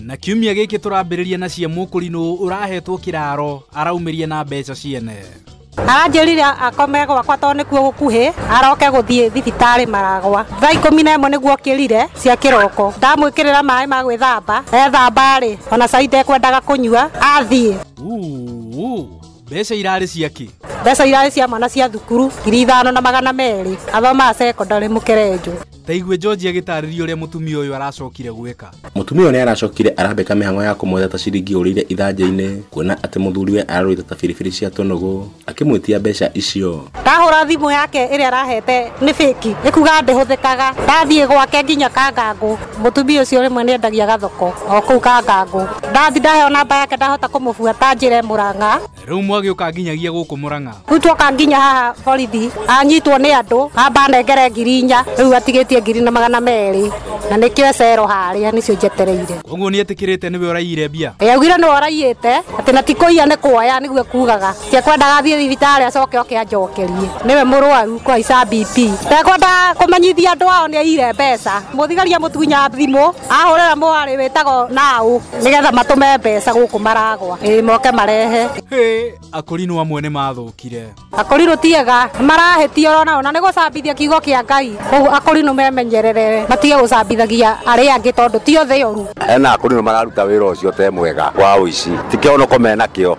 na kiumia gĩkĩ tũrambĩrĩria na cia mũkũrinũ ũrahetwo kĩraro araumĩria na mbeca ciene aranjĩrire akome gwakwa tondũ nĩkuo gũkuhĩ aroke gũthiĩ thibitarĩ maragwa thaa ikũmi na ĩmwe nĩguo kĩrire cia kĩroko ndamwĩkĩrĩra maĩ ma gwĩthamba ethamba-rĩ ona cai ndekwendaga kũnyua athiĩ Uu, mbeca irarĩ cia kĩ mbeca irarĩ cia mwana cia thukuru ngiri ithano na magana merĩ athomaga sekondarĩ mũkerenjũ ta igue George agĩtarĩria ũrĩa mũtumia ũyũ aracokire gwĩka Mũtumia ũyũ nĩ aracokire arambĩka mĩhang'o ya kũmwetha ta ciringi ũrĩire ithanjĩ-inĩ kuona atĩ mũthuriwe ararũĩte ta biribiri cia tũnũgũ akĩmwĩtia mbeca icio. ndahũra thimũ yake ĩrĩa arahete nĩ bĩki ĩkuga ndĩhũthĩkaga ndathiĩ gwake nginya kangangũ Mũtumia ũcio rĩmwe nĩ endagia gathoko o kũu Kangangũ. Ndathi ndaheo namba yake ndahota kũmũbuata njĩre Mũrang'a. Rĩu mwagĩũka nginyagia gũkũ Mũrang'a. Rĩu twoka nginya haha borithi anyitwo nĩ andũ amba anengere ngiri inya rĩu atigĩtie ngiri na magana merĩ na nĩkĩo e cero harĩa nĩcio njetereire. Koguo nĩ etĩkĩrĩte nĩwe ũraiyire mbia? Ĩĩ augire nĩwe ũraiyĩte atĩ na ti kũiya nĩ kwoya nĩguo ekugaga. Tekwendaga athiĩ thibitarĩ acoke oke anjokerie nĩwe mũrwaru kũhaica BP. Tekwendaga kũmenyithia andũ ao nĩ aiyire mbeca. Mũthigari amũtunya thimũ ahũrĩra mwarĩ wĩtagwo Naũ nĩgetha matũme mbeca gũkũ Maragwa ĩĩ moke marehe. Hĩ! Akorinũ amwe nĩ mathũkire. Akorinũ ti ega, nĩ marahĩtia ũrona ũũ na nĩ gũcambithia kiugo kĩa Ngai. Kwoguo Akorinũ memenyerere matige gũcambithagia arĩa angĩ tondũ ti o thĩ yoru. Hena Akorinũ mararuta wĩra ũcio te mwega wa ũici. Ti kĩhonoko menakĩo.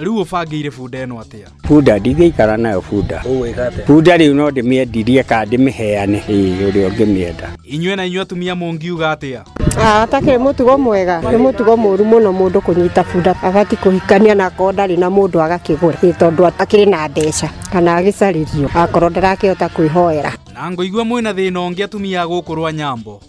rĩu ũbangĩire bunda ĩno atĩa bunda ndingĩikara nayo bunda bunda rĩu no ndĩmĩendirie kana ndĩmĩheane ĩĩ ũrĩa ũngĩmĩenda inyuĩ na inyuĩ atumia mũngiuga atĩa atakĩrĩ ah, mũtugo mwega nĩ mũtugo mũru mũno mũndũ kũnyita bunda agati kũhikania na akorwo ndarĩ na mũndũ agakĩgũra ĩ tondũ atakĩrĩ na mbeca kana agĩcarĩrio akorwo ndarakĩhota kwĩhoera na ngoigua mwĩna thĩna ũngĩ atumia gũkũ rwa nyambo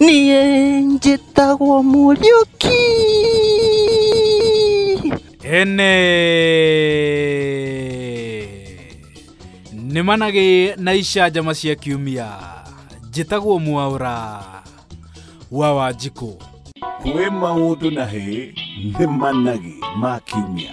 niä njĩtagwo mũriũki ene nĩ managĩ na icanjama cia kiumia njĩtagwo mwaũra wa wanjikũ kwĩ maũndũ na hĩ nĩ managĩ ma kiumia